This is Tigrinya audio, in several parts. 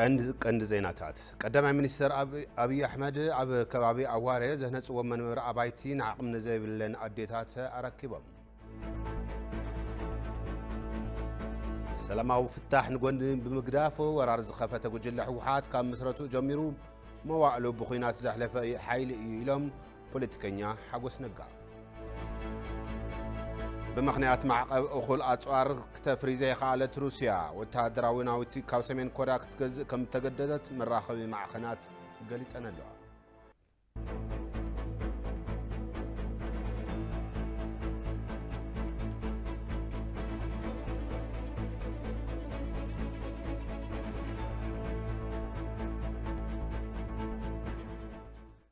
ቀንዲ ቀንዲ ዜናታት ቀዳማይ ሚኒስትር ኣብዪ ኣሕመድ ኣብ ከባቢ ኣዋረ ዘህነፅዎ መንበሪ ኣባይቲ ንዓቕሚ ንዘይብለን ኣዴታት ኣረኪቦም ሰላማዊ ፍታሕ ንጎኒ ብምግዳፍ ወራር ዝኸፈተ ጉጅለ ህወሓት ካብ ምስረቱ ጀሚሩ መዋእሉ ብኩናት ዘሕለፈ ሓይሊ እዩ ኢሎም ፖለቲከኛ ሓጎስ ነጋ፣ ብምኽንያት ማዕቐብ እኹል ኣጽዋር ክተፍሪ ዘይኸኣለት ሩስያ፣ ወተሃደራዊ ናውቲ ካብ ሰሜን ኮርያ ክትገዝእ ከም እተገደደት መራኸቢ ማዕኸናት ገሊጸን ኣለዋ።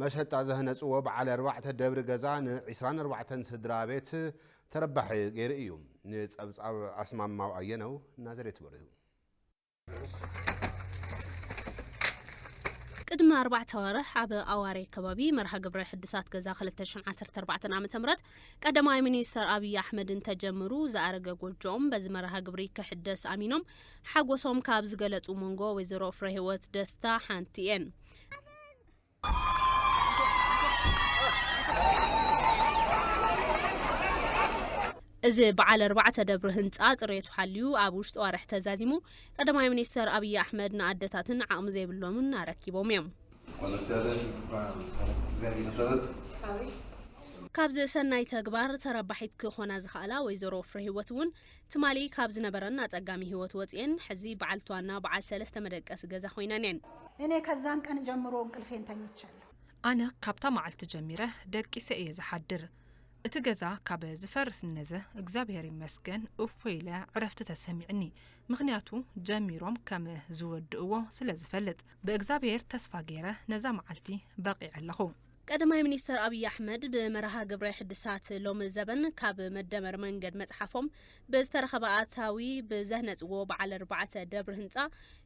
መሸጣ ዘህነፅዎ በዓል ኣርባዕተ ደብሪ ገዛ ን ዕስራን ኣርባዕተን ስድራ ቤት ተረባሒ ገይሩ እዩ። ንፀብፃብ ኣስማማው ኣየነው ናዝሬት በሪሁ። ቅድሚ ኣርባዕተ ኣዋርሕ ኣብ ኣዋሬ ከባቢ መርሃ ግብረ ሕድሳት ገዛ ክልተ ሽሕን ዓሰርተ ኣርባዕተን ዓመተ ምህረት ቀዳማይ ሚኒስተር ኣብዪ ኣሕመድን ተጀምሩ ዝኣረገ ጎጆኦም በዚ መርሃ ግብሪ ክሕደስ ኣሚኖም ሓጎሶም ካብ ዝገለፁ መንጎ ወይዘሮ ፍረህይወት ደስታ ሓንቲ እየን። እዚ በዓል ኣርባዕተ ደብሪ ህንፃ ፅሬቱ ሓልዩ ኣብ ውሽጢ ዋርሒ ተዛዚሙ ቀዳማይ ሚኒስተር ኣብዪ ኣሕመድ ንኣደታትን ዓቕሚ ዘይብሎምን ኣረኪቦም እዮም ካብዚ ሰናይ ተግባር ተረባሒት ክኾና ዝኸኣላ ወይዘሮ ፍረሂወት እውን ትማሊ ካብ ዝነበረን ኣጸጋሚ ህይወት ወጺኤን ሕዚ በዓልቲ ዋና በዓል ሰለስተ መደቀሲ ገዛ ኮይነን እየን። እኔ ከዛን ቀን ጀምሮ እንቅልፌን ተኝቻለሁ። ኣነ ካብታ መዓልቲ ጀሚረ ደቂሰ እየ ዝሓድር። እቲ ገዛ ካብ ዝፈርስ እነዘ እግዚኣብሔር ይመስገን እፎይ ኢለ ዕረፍቲ ተሰሚዕኒ። ምኽንያቱ ጀሚሮም ከም ዝወድእዎ ስለ ዝፈልጥ። ብእግዚኣብሔር ተስፋ ገይረ ነዛ መዓልቲ በቒዐ ኣለኹ። ቀዳማይ ሚኒስተር ኣብዪ ኣሕመድ ብመርሃ ግብረ ሕድሳት ሎሚ ዘበን ካብ መደመር መንገድ መጽሓፎም ብዝተረኸበ ኣታዊ ብዘህነጽዎ በዓል ኣርባዕተ ደብሪ ህንጻ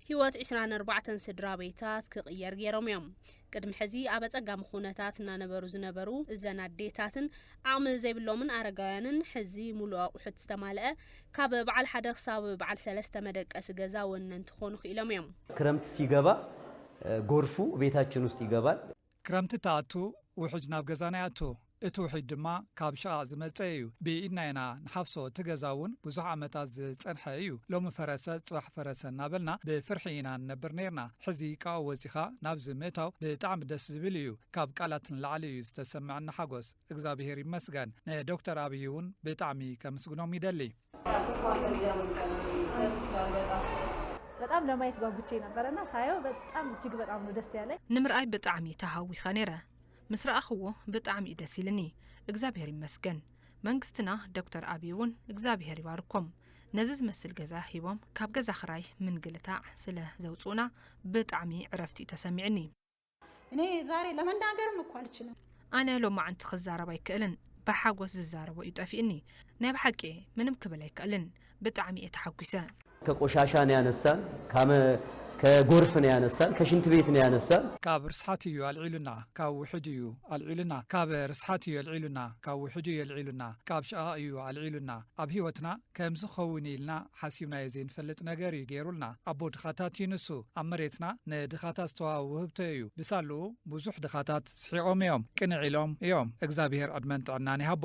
ህይወት ዕስራን ኣርባዕተን ስድራ ቤታት ክቕየር ገይሮም እዮም። ቅድሚ ሕዚ ኣብ ኣጸጋሚ ኩነታት እናነበሩ ዝነበሩ እዘን ኣዴታትን ዓቕሚ ዘይብሎምን ኣረጋውያንን ሕዚ ሙሉእ ኣቑሑት ዝተማልአ ካብ በዓል ሓደ ክሳብ በዓል ሰለስተ መደቀሲ ገዛ ወነንቲ ክኾኑ ክኢሎም እዮም። ክረምት ሲገባ ጎርፉ ቤታችን ውስጥ ይገባል። ክረምቲ ትኣቱ ውሕጅ ናብ ገዛና ይኣቱ እቲ ውሕጅ ድማ ካብ ሽቓቕ ዝመጸ እዩ ብኢድና ኢና ንሓፍሶ እቲ ገዛ እውን ብዙሕ ዓመታት ዝጸንሐ እዩ ሎሚ ፈረሰ ጽባሕ ፈረሰ እናበልና ብፍርሒ ኢና ንነብር ነርና ሕዚ ካብኡ ወጺኻ ናብዚ ምእታው ብጣዕሚ ደስ ዝብል እዩ ካብ ቃላት ንላዕሊ እዩ ዝተሰምዐኒ ሓጎስ እግዛብሄር ይመስገን ንዶክተር ኣብይ እውን ብጣዕሚ ከምስግኖም ይደሊ በጣም ለማየት ጓጉቼ ነበረ እና ሳየው በጣም እጅግ በጣም ነው ደስ ያለኝ። ንምርኣይ ብጣዕሚ ተሃዊኸ ነይረ ምስ ረኣኽዎ ብጣዕሚ እዩ ደስ ኢልኒ እግዚኣብሔር ይመስገን መንግስትና ዶክተር ኣብይ እውን እግዚኣብሔር ይባርኮም ነዚ ዝመስል ገዛ ሂቦም ካብ ገዛ ክራይ ምንግልታዕ ስለ ዘውፅኡና ብጣዕሚ ዕረፍቲ እዩ ተሰሚዕኒ እኔ ዛሬ ለመናገርም እኮ አልችልም። ኣነ ሎማዓንቲ ክዛረብ ኣይክእልን ብሓጎስ ዝዛረቦ እዩ ጠፊእኒ ናይ ብሓቂ እየ ምንም ክብል ኣይክእልን ብጣዕሚ እየ ተሓጒሰ። ከቆሻሻ ነው ያነሳን ካመ ከጎርፍ ነው ያነሳን ከሽንት ቤት ነው ያነሳን። ካብ ርስሓት እዩ ኣልዒሉና ካብ ውሕጅ እዩ ኣልዒሉና ካብ ርስሓት እዩ ኣልዒሉና ካብ ውሕጅ እዩ ኣልዒሉና ካብ ሽቓቕ እዩ ኣልዒሉና ኣብ ሂወትና ከምዚ ክኸውን እዩ ኢልና ሓሲብናዮ ዘይንፈልጥ ነገር እዩ ገይሩልና ኣቦ ድኻታት እዩ ንሱ ኣብ መሬትና ንድኻታት ዝተዋሃበ ውህብቶ እዩ ብሳልኡ ብዙሕ ድኻታት ስሒቖም እዮም ቅንዕ ኢሎም እዮም እግዛብሄር ዕድመን ጥዕናን ይሃቦ።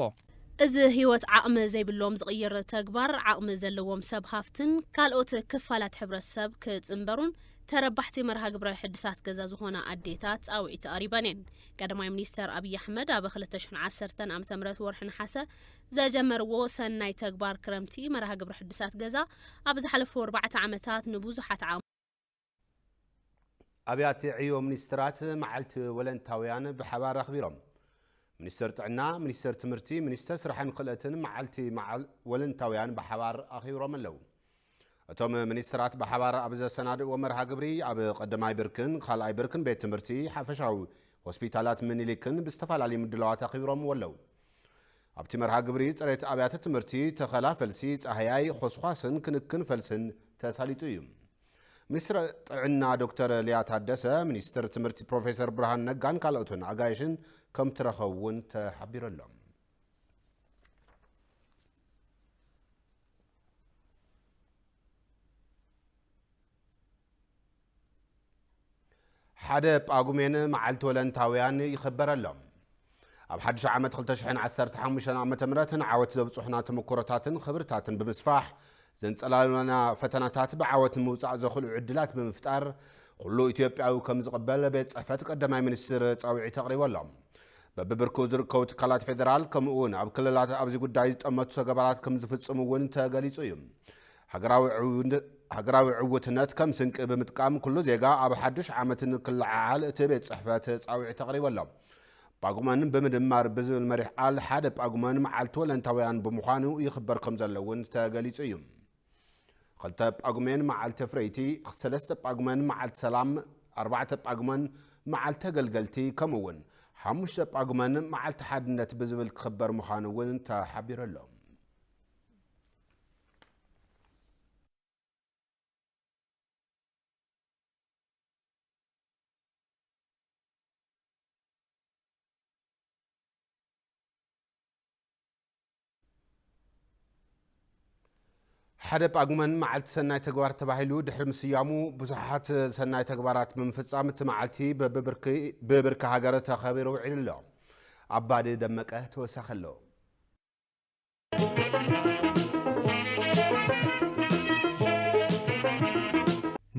እዚ ህይወት ዓቕሚ ዘይብሎም ዝቕይር ተግባር ዓቕሚ ዘለዎም ሰብ ሃፍትን ካልኦት ክፋላት ሕብረተሰብ ክጽንበሩን ተረባሕቲ መርሃ ግብረ ሕድሳት ገዛ ዝኾና ኣዴታት ጻውዒት ኣቕሪበን እየን። ቀዳማይ ሚኒስተር ኣብይ ኣሕመድ ኣብ ክልተ ሽሕን ዓሰርተን ዓመተ ምህረት ወርሒ ነሓሰ ዘጀመርዎ ሰናይ ተግባር ክረምቲ መርሃ ግብሪ ሕድሳት ገዛ ኣብ ዝሓለፉ ኣርባዕተ ዓመታት ንብዙሓት ኣብያተ ዕዮ ሚኒስትራት መዓልቲ ወለንታውያን ብሓባር ኣኽቢሮም። ሚኒስተር ጥዕና፣ ሚኒስተር ትምህርቲ፣ ሚኒስተር ስራሕን ክእለትን መዓልቲ ወለንታውያን ብሓባር ኣኺብሮም ኣለው። እቶም ሚኒስትራት ብሓባር ኣብ ዘሰናድእዎ መርሃ ግብሪ ኣብ ቐዳማይ ብርክን ኻልኣይ ብርክን ቤት ትምህርቲ ሓፈሻዊ ሆስፒታላት ምኒሊክን ብዝተፈላለዩ ምድላዋት ኣኺብሮምዎ ኣለው። ኣብቲ መርሃ ግብሪ ፅሬት ኣብያተ ትምህርቲ፣ ተኸላ ፈልሲ፣ ፃህያይ፣ ኾስዃስን ክንክን ፈልስን ተሳሊጡ እዩ። ሚኒስትር ጥዕና ዶክተር ሊያ ታደሰ፣ ሚኒስትር ትምህርቲ ፕሮፌሰር ብርሃን ነጋን ካልኦትን ኣጋይሽን ከምትረኸቡ እውን ተሓቢሩ ኣሎ። ሓደ ጳጉሜን መዓልቲ ወለንታውያን ይኽበረሎም። ኣብ ሓድሽ ዓመት 2015 ዓ ም ንዓወት ዘብጽሑና ተመክሮታትን ኽብርታትን ብምስፋሕ ዘንጸላሉና ፈተናታት ብዓወት ንምውጻእ ዘኽእሉ ዕድላት ብምፍጣር ኩሉ ኢትዮጵያዊ ከም ዝቕበል ቤት ጽሕፈት ቀዳማይ ሚኒስትር ጻውዒት ኣቕሪበሎም። በብብርኩ ዝርከቡ ትካላት ፌደራል ከምኡ እውን ኣብ ክልላት ኣብዚ ጉዳይ ዝጠመቱ ተገባራት ከም ዝፍፅሙ እውን ተገሊፁ እዩ። ሃገራዊ ዕውትነት ከም ስንቂ ብምጥቃም ኩሉ ዜጋ ኣብ ሓዱሽ ዓመት ንክለዓዓል እቲ ቤት ፅሕፈት ፃውዒት ኣቕሪቡ ኣሎ። ጳጉመን ብምድማር ብዝብል መሪሕ ቃል ሓደ ጳጉመን መዓልቲ ወለንታውያን ብምዃኑ ይኽበር ከም ዘሎ እውን ተገሊፁ እዩ። ኽልተ ጳጉሜን መዓልቲ ኣፍረይቲ፣ ሰለስተ ጳጉመን መዓልቲ ሰላም፣ ኣርባዕተ ጳጉመን መዓልቲ ተገልገልቲ ከምኡ እውን ሓሙሽተ ጳጉመን መዓልቲ ሓድነት ብዝብል ክኽበር ምዃኑ እውን ተሓቢሩ ኣሎ። ሓደ ጳጉመን መዓልቲ ሰናይ ተግባር ተባሂሉ ድሕሪ ምስያሙ ብዙሓት ሰናይ ተግባራት ብምፍፃም እቲ መዓልቲ ብብርኪ ሃገር ተኸቢሩ ውዒሉ ኣሎ። ኣባዲ ደመቀ ተወሳኺ ኣለዎ።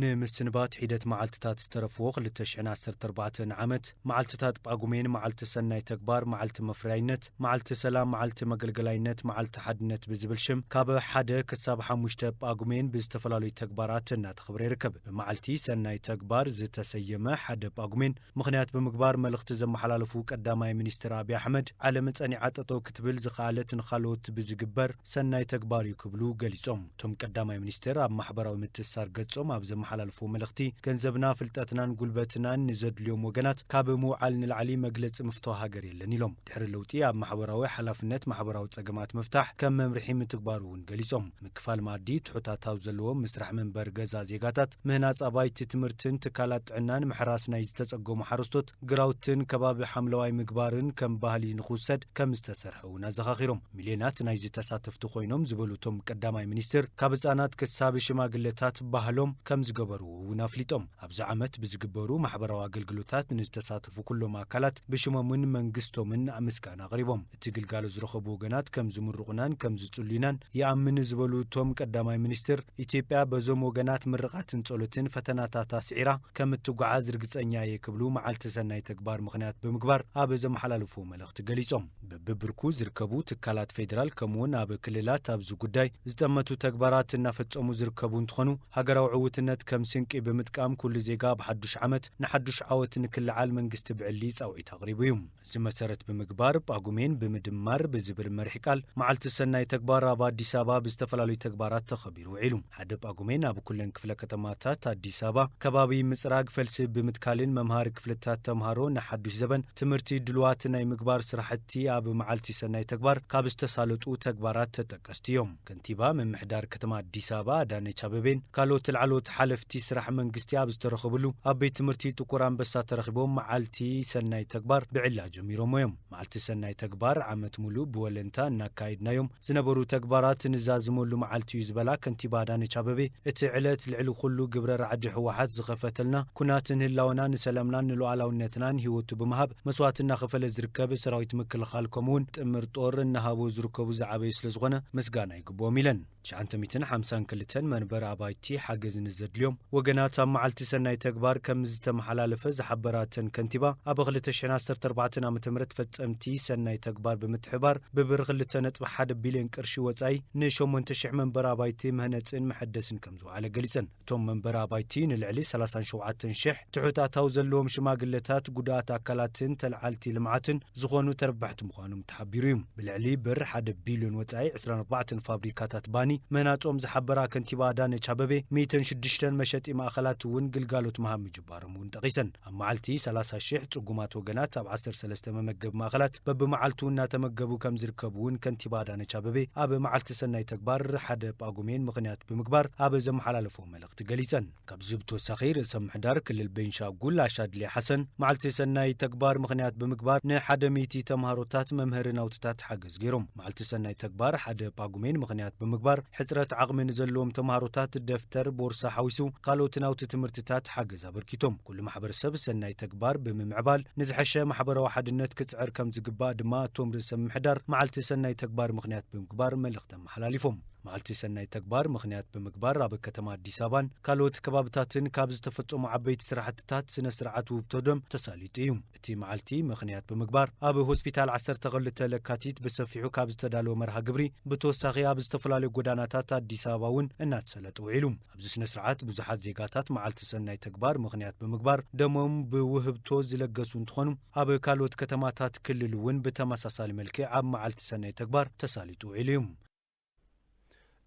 ንምስንባት ሒደት መዓልትታት ዝተረፍዎ 2014 ዓመት መዓልትታት ጳጉሜን መዓልቲ ሰናይ ተግባር፣ መዓልቲ መፍረያይነት፣ መዓልቲ ሰላም፣ መዓልቲ መገልገላይነት፣ መዓልቲ ሓድነት ብዝብል ሽም ካብ ሓደ ክሳብ ሓሙሽተ ጳጉሜን ብዝተፈላለዩ ተግባራት እናተኸብረ ይርከብ። ብመዓልቲ ሰናይ ተግባር ዝተሰየመ ሓደ ጳጉሜን ምኽንያት ብምግባር መልእኽቲ ዘመሓላለፉ ቀዳማይ ሚኒስትር ኣብዪ ኣሕመድ ዓለም ፀኒዓ ጠጠው ክትብል ዝኸኣለት ንኻልኦት ብዝግበር ሰናይ ተግባር እዩ ክብሉ ገሊፆም። እቶም ቀዳማይ ሚኒስትር ኣብ ማሕበራዊ ምትእስሳር ገፆም ኣብ ዘመሓላልፍዎ መልእኽቲ፣ ገንዘብና፣ ፍልጠትናን ጉልበትናን ንዘድልዮም ወገናት ካብ ምውዓል ንላዕሊ መግለፂ ምፍቶ ሃገር የለን ኢሎም። ድሕሪ ለውጢ ኣብ ማሕበራዊ ሓላፍነት ማሕበራዊ ፀገማት ምፍታሕ ከም መምርሒ ምትግባሩ እውን ገሊፆም። ምክፋል መኣዲ፣ ትሑት ኣታዊ ዘለዎም ምስራሕ መንበሪ ገዛ ዜጋታት፣ ምህናፅ ኣባይቲ ትምህርትን ትካላት ጥዕናን፣ ምሕራስ ናይ ዝተፀገሙ ሓረስቶት፣ ግራውትን ከባቢ ሓምለዋይ ምግባርን ከም ባህሊ ንኽውሰድ ከም ዝተሰርሐ እውን ኣዘኻኺሮም። ሚልዮናት ናይዚ ተሳተፍቲ ኮይኖም ዝበሉ እቶም ቀዳማይ ሚኒስትር፣ ካብ ህፃናት ክሳብ ሽማግለታት ባህሎም ከም ዝገበርዎ እውን ኣፍሊጦም። ኣብዚ ዓመት ብዝግበሩ ማሕበራዊ ኣገልግሎታት ንዝተሳተፉ ኩሎም ኣካላት ብሽሞምን መንግስቶምን ምስጋና ኣቕሪቦም። እቲ ግልጋሎት ዝረኸቡ ወገናት ከም ዝምርቑናን ከም ዝጽሉዩናን ይኣምን ዝበሉ እቶም ቀዳማይ ሚኒስትር፣ ኢትዮጵያ በዞም ወገናት ምርቓትን ጸሎትን ፈተናታት ኣስዒራ ከም እትጓዓዝ ርግጸኛ እየ ክብሉ መዓልቲ ሰናይ ተግባር ምኽንያት ብምግባር ኣብ ዘመሓላለፍዎ መልእኽቲ ገሊጾም። በብብርኩ ዝርከቡ ትካላት ፌዴራል ከምኡ'ውን ኣብ ክልላት ኣብዚ ጉዳይ ዝጠመቱ ተግባራት እናፈጸሙ ዝርከቡ እንትኾኑ ሃገራዊ ዕውትነት ከም ስንቂ ብምጥቃም ኩሉ ዜጋ ኣብ ሓዱሽ ዓመት ንሓዱሽ ዓወት ንክለዓል መንግስቲ ብዕሊ ጻውዒት ኣቕሪቡ እዩ። እዚ መሰረት ብምግባር ጳጉሜን ብምድማር ብዝብል መሪሕ ቃል መዓልቲ ሰናይ ተግባር ኣብ ኣዲስ ኣበባ ብዝተፈላለዩ ተግባራት ተኸቢሩ ውዒሉ። ሓደ ጳጉሜን ኣብ ኩለን ክፍለ ከተማታት ኣዲስ ኣበባ ከባቢ ምፅራግ ፈልሲ ብምትካልን መምሃሪ ክፍልታት ተምሃሮ ንሓዱሽ ዘበን ትምህርቲ ድሉዋት ናይ ምግባር ስራሕቲ ኣብ መዓልቲ ሰናይ ተግባር ካብ ዝተሳለጡ ተግባራት ተጠቀስቲ እዮም። ከንቲባ ምምሕዳር ከተማ ኣዲስ ኣበባ ኣዳነች ኣበቤን ካልኦት ላዕለዎት ሓለፍቲ ስራሕ መንግስቲ ኣብ ዝተረኸብሉ ኣብ ቤት ትምህርቲ ጥቁር ኣንበሳ ተረኺቦም መዓልቲ ሰናይ ተግባር ብዕሊ ኣጀሚሮምዎ እዮም። መዓልቲ ሰናይ ተግባር ዓመት ሙሉእ ብወለንታ እናካየድናዮም ዝነበሩ ተግባራት ንዛዝመሉ መዓልቲ እዩ ዝበላ ከንቲባ ኣዳነች ኣበቤ እቲ ዕለት ልዕሊ ኩሉ ግብረ ራዕዲ ህወሓት ዝኸፈተልና ኩናት ንህላወና ንሰላምናን ንሉኣላውነትናን ሂወቱ ብምሃብ መስዋእቲ እናኸፈለ ዝርከብ ሰራዊት ምክልኻል ከምኡ እውን ጥምር ጦር እናሃቡ ዝርከቡ ዝዓበዩ ስለ ዝኾነ ምስጋና ይግብኦም ኢለን። ትሽዓንተ ሚእትን ሓምሳን ክልተን መንበሪ ኣባይቲ ሓገዝ ንዘድልዮም ወገናት ኣብ መዓልቲ ሰናይ ተግባር ከምዝተመሓላለፈ ዝሓበራ እተን ከንቲባ ኣብ ክልተ ሽሕን ዓሰርተ ኣርባዕተን ዓመተ ምህረት ፈፀምቲ ሰናይ ተግባር ብምትሕብባር ብብር ክልተ ነጥቢ ሓደ ቢሊየን ቅርሺ ወፃኢ ንሸሞንተ ሽሕ መንበሪ ኣባይቲ መህነፅን መሐደስን ከምዝወዓለ ገሊፀን። እቶም መንበሪ ኣባይቲ ንልዕሊ ሰላሳን ሸውዓተን ሽሕ ትሑት ኣታዊ ዘለዎም ሽማግለታት፣ ጉዱኣት ኣካላትን ተለዓልቲ ልምዓትን ዝኾኑ ተረባሕቲ ምዃኖም ተሓቢሩ እዩ። ብልዕሊ ብር ሓደ ቢልዮን ወፃኢ ዕስራን ኣርባዕተን ፋብሪካታት ባኒ ምህናፆም ዝሓበራ ከንቲባ ኣዳነች ኣበቤ፣ ሚእትን ሽዱሽተን መሸጢ ማእኸላት እውን ግልጋሎት ምሃብ ምጅባሮም እውን ጠቒሰን። ኣብ መዓልቲ ሰላሳ ሽሕ ፅጉማት ወገናት ኣብ ዓሰርተ ሰለስተ መመገቢ ማእኸላት በብመዓልቱ እናተመገቡ ከምዝርከቡ እውን ከንቲባ ኣዳነች ኣበቤ ኣብ መዓልቲ ሰናይ ተግባር ሓደ ጳጉሜን ምኽንያት ብምግባር ኣብ ዘመሓላለፍዎ መልእኽቲ ገሊፀን። ካብዚ ብተወሳኺ ርእሰ ምሕዳር ክልል ቤንሻጉል ኣሻድሊ ሓሰን መዓልቲ ሰናይ ተግባር ምኽንያት ብምግባር ንሓደ ሚእቲ ተምሃሮታት መምህሪ ናውትታት ሓገዝ ገይሮም። መዓልቲ ሰናይ ተግባር ሓደ ጳጉሜን ምኽንያት ብምግባር ሕፅረት ዓቕሚ ንዘለዎም ተምሃሮታት ደፍተር፣ ቦርሳ ሓዊሱ ካልኦት ናውቲ ትምህርትታት ሓገዝ ኣበርኪቶም። ኩሉ ማሕበረሰብ ሰናይ ተግባር ብምምዕባል ንዝሐሸ ማሕበራዊ ሓድነት ክፅዕር ከምዝግባእ ድማ እቶም ርእሰ ምምሕዳር መዓልቲ ሰናይ ተግባር ምኽንያት ብምግባር መልእኽቲ ኣመሓላሊፎም። መዓልቲ ሰናይ ተግባር ምኽንያት ብምግባር ኣብ ከተማ ኣዲስ ኣበባን ካልኦት ከባብታትን ካብ ዝተፈፀሙ ዓበይቲ ስራሕቲታት ስነ ስርዓት ውህብቶ ደም ተሳሊጡ እዩ። እቲ መዓልቲ ምኽንያት ብምግባር ኣብ ሆስፒታል ዓሰርተ ክልተ ለካቲት ብሰፊሑ ካብ ዝተዳለወ መርሃ ግብሪ ብተወሳኺ ኣብ ዝተፈላለዩ ጎዳናታት ኣዲስ ኣበባ እውን እናተሰለጠ ውዒሉ። ኣብዚ ስነስርዓት ብዙሓት ዜጋታት መዓልቲ ሰናይ ተግባር ምኽንያት ብምግባር ደሞም ብውህብቶ ዝለገሱ እንትኾኑ ኣብ ካልኦት ከተማታት ክልል እውን ብተመሳሳሊ መልክዕ ኣብ መዓልቲ ሰናይ ተግባር ተሳሊጡ ውዒሉ እዩ።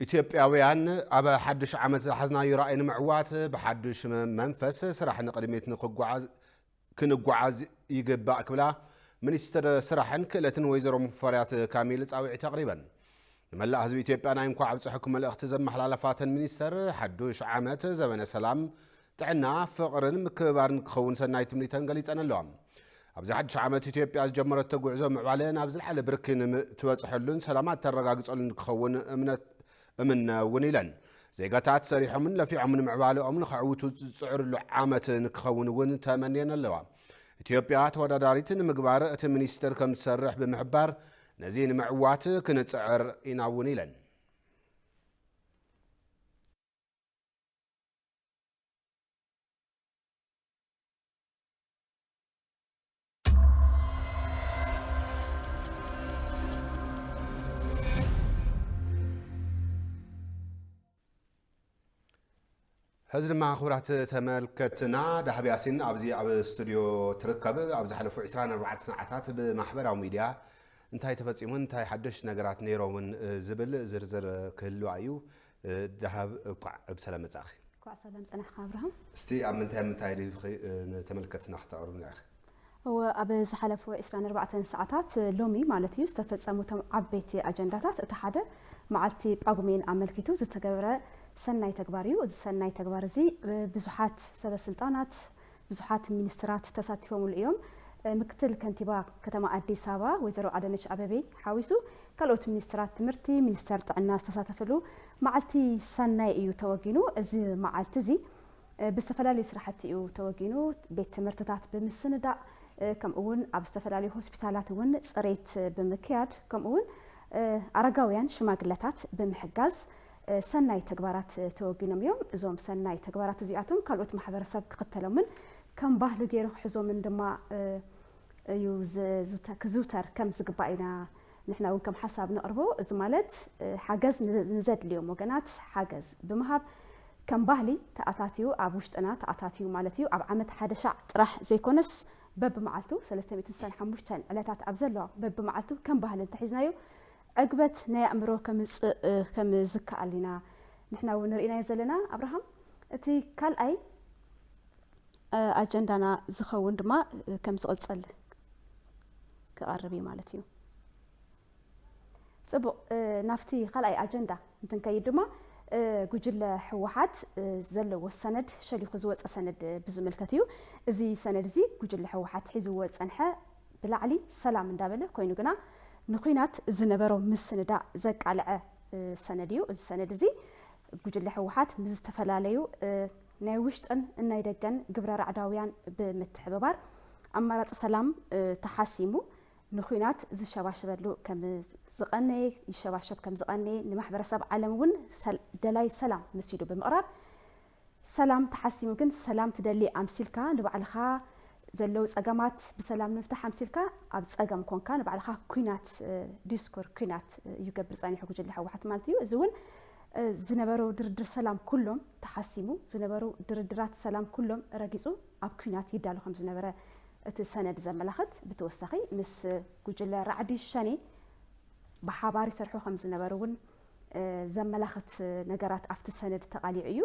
ኢትዮጵያውያን ኣብ ሓድሽ ዓመት ዝሓዝናዮ ራእይ ንምዕዋት ብሓድሽ መንፈስ ስራሕ ንቕድሚት ንክጓዓዝ ክንጓዓዝ ይግባእ ክብላ ሚኒስትር ስራሕን ክእለትን ወይዘሮ ሙፈሪያት ካሚል ፃውዒት ኣቕሪበን። ንመላእ ህዝቢ ኢትዮጵያ ናይ እንኳዕ ኣብፀሐኩም መልእኽቲ ዘመሓላለፋ እተን ሚኒስትር፣ ሓዱሽ ዓመት ዘበነ ሰላም፣ ጥዕና፣ ፍቕርን ምክብባርን ክኸውን ሰናይ ትምኒተን ገሊፀን'ለዋ። ኣብዚ ሓዱሽ ዓመት ኢትዮጵያ ዝጀመረቶ ጉዕዞ ምዕባለ ናብ ዝለዓለ ብርኪ ንትበፅሐሉን ሰላማ እተረጋግፀሉን ክኸውን እምነት እምነ እውን ኢለን። ዜጋታት ሰሪሖምን ለፊዖምን ምዕባለኦም ንኸዕውቱ ዝፅዕርሉ ዓመት ንክኸውን እውን ተመንየን ኣለዋ። ኢትዮጵያ ተወዳዳሪት ንምግባር እቲ ሚኒስቴር ከምዝሰርሕ ብምሕባር፣ ነዚ ንምዕዋት ክንፅዕር ኢና እውን ኢለን። ሕዚ ድማ ክቡራት ተመልከትና ዳህብ ያሲን ኣብዚ ኣብ ስቱድዮ ትርከብ ኣብ ዝሓለፉ 24 ሰዓታት ብማሕበራዊ ሚድያ እንታይ ተፈፂሙን እንታይ ሓደሽ ነገራት ነይሮምን ዝብል ዝርዝር ክህልዋ እዩ ዳሃብ እንኳዕ ብሰላም መጻእኺ። እንኳዕ ሰላም ጸናሕካ ኣብርሃም። እስቲ ኣብ ምንታይ ምንታይ ዲኺ ንተመልከትትና ክተቕርብልና ኢኺ? እወ ኣብ ዝሓለፉ ዕስራን ኣርባዕተን ሰዓታት ሎሚ ማለት እዩ ዝተፈጸሙ እቶም ዓበይቲ ኣጀንዳታት እቲ ሓደ መዓልቲ ጳጉሜን ኣመልኪቱ ዝተገብረ ሰናይ ተግባር እዩ። እዚ ሰናይ ተግባር እዚ ብዙሓት ሰበስልጣናት ብዙሓት ሚኒስትራት ተሳቲፎምሉ እዮም። ምክትል ከንቲባ ከተማ ኣዲስ ኣበባ ወይዘሮ ኣዳነች ኣበቤ ሓዊሱ ካልኦት ሚኒስትራት ትምህርቲ፣ ሚኒስተር ጥዕና ዝተሳተፍሉ መዓልቲ ሰናይ እዩ ተወጊኑ። እዚ መዓልቲ እዚ ብዝተፈላለዩ ስራሕቲ እዩ ተወጊኑ። ቤት ትምህርትታት ብምስንዳእ ከምኡ እውን ኣብ ዝተፈላለዩ ሆስፒታላት እውን ፅሬት ብምክያድ ከምኡ እውን ኣረጋውያን ሽማግለታት ብምሕጋዝ ሰናይ ተግባራት ተወጊኖም እዮም። እዞም ሰናይ ተግባራት እዚኣቶም ካልኦት ማሕበረሰብ ክኽተሎምን ከም ባህሉ ገይሩ ክሕዞምን ድማ እዩ ክዝውተር ከም ዝግባእ ኢና ንሕና እውን ከም ሓሳብ ነቕርቦ። እዚ ማለት ሓገዝ ንዘድልዮም ወገናት ሓገዝ ብምሃብ ከም ባህሊ ተኣታትዩ ኣብ ውሽጥና ተኣታትዩ ማለት እዩ። ኣብ ዓመት ሓደ ሻዕ ጥራሕ ዘይኮነስ በብመዓልቱ ሰለስተ ሚእትን ስሳን ሓሙሽተን ዕለታት ኣብ ዘለዋ በብመዓልቱ ከም ባህሊ እንተሒዝናዮ ዕግበት ናይ ኣእምሮ ከምጽእ ከም ዝከኣል ኢና ንሕና እውን ርኢናዮ ዘለና ኣብርሃም እቲ ካልኣይ ኣጀንዳና ዝኸውን ድማ ከም ዝቕጽል ክቐርብ እዩ ማለት እዩ ጽቡቕ ናብቲ ካልኣይ ኣጀንዳ እንትንከይድ ድማ ጉጅለ ህወሓት ዘለዎ ሰነድ ሸሊኹ ዝወፀ ሰነድ ብዝምልከት እዩ እዚ ሰነድ እዚ ጉጅለ ህወሓት ሒዝዎ ዝፀንሐ ብላዕሊ ሰላም እንዳበለ ኮይኑ ግና ንኩናት ዝነበሮ ምስንዳእ ዘቃልዐ ሰነድ እዩ። እዚ ሰነድ እዚ ጉጅለ ህወሓት ምስ ዝተፈላለዩ ናይ ውሽጥን ናይ ደገን ግብረ ራዕዳውያን ብምትሕብባር ኣማራፂ ሰላም ተሓሲሙ ንኩናት ዝሸባሸበሉ ከም ዝቐነየ ይሸባሸብ ከም ዝቐነየ ንማሕበረሰብ ዓለም እውን ደላይ ሰላም መሲሉ ብምቕራብ ሰላም ተሓሲሙ ግን ሰላም ትደሊ ኣምሲልካ ንባዕልኻ ዘለው ፀገማት ብሰላም ንምፍታሕ ኣምሲልካ ኣብ ፀገም ኮንካ ንባዕልኻ ኩናት ዲስኩር ኩናት እዩ ገብር ፀኒሑ ጉጅለ ሕወሓት ማለት እዩ እዚ እውን ዝነበሩ ድርድር ሰላም ኩሎም ተሓሲሙ ዝነበሩ ድርድራት ሰላም ኩሎም ረጊፁ ኣብ ኩናት ይዳሉ ከም ዝነበረ እቲ ሰነድ ዘመላኽት ብተወሳኺ ምስ ጉጅለ ራዕዲ ሸኔ ብሓባር ይሰርሑ ከም ዝነበሩ እውን ዘመላኽት ነገራት ኣብቲ ሰነድ ተቓሊዑ እዩ።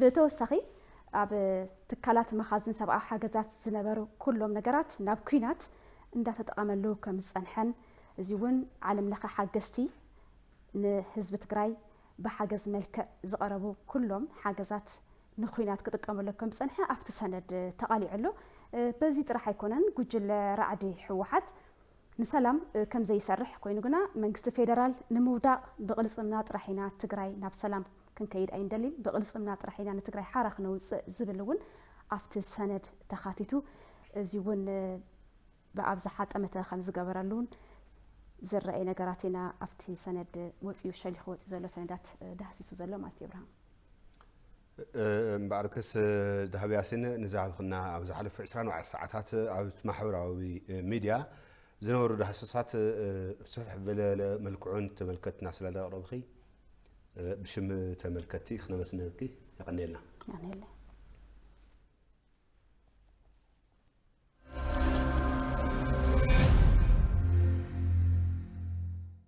ብተወሳኺ ኣብ ትካላት መኻዝን ሰብኣዊ ሓገዛት ዝነበሩ ኩሎም ነገራት ናብ ኩናት እንዳተጠቐመሉ ከም ዝፀንሐን እዚ እውን ዓለም ለኸ ሓገዝቲ ንህዝቢ ትግራይ ብሓገዝ መልክዕ ዝቐረቡ ኩሎም ሓገዛት ንኩናት ክጥቀመሉ ከም ዝፀንሐ ኣብቲ ሰነድ ተቓሊዑ ኣሎ። በዚ ጥራሕ ኣይኮነን ጉጅለ ራዕዲ ህወሓት ንሰላም ከም ዘይሰርሕ ኮይኑ ግና መንግስቲ ፌደራል ንምውዳቕ ብቕልፅምና ጥራሕ ኢና ትግራይ ናብ ሰላም ክንከይድ ኣይንደሊን፣ ብቕልፅምና ጥራሕ ኢና ንትግራይ ሓራ ክነውፅእ ዝብል እውን ኣብቲ ሰነድ ተኻቲቱ እዙይ እውን ብኣብዝሓ ጠመተ ከም ዝገበረሉ እውን ዝረኣይ ነገራት ኢና ኣብቲ ሰነድ ወፂኡ ሸሊኹ ወፂኡ ዘሎ ሰነዳት ዳህሲሱ ዘሎ ማለት እዩ። ኣብርሃም። እምበኣርከስ ዳሃብ ያሲን ንዝሃብክና ኣብ ዝሓለፉ ዕስራን ኣርባዕተ ሰዓታት ኣብ ማሕበራዊ ሚድያ ዝነበሩ ዳህሰሳት ብስፍሕ ዝበለ መልክዑ ንተመልከትና ስለ ዘቕረብኺ ብሽም ተመልከቲ ክነመስግነኪ የቐንየልና። ኣነለ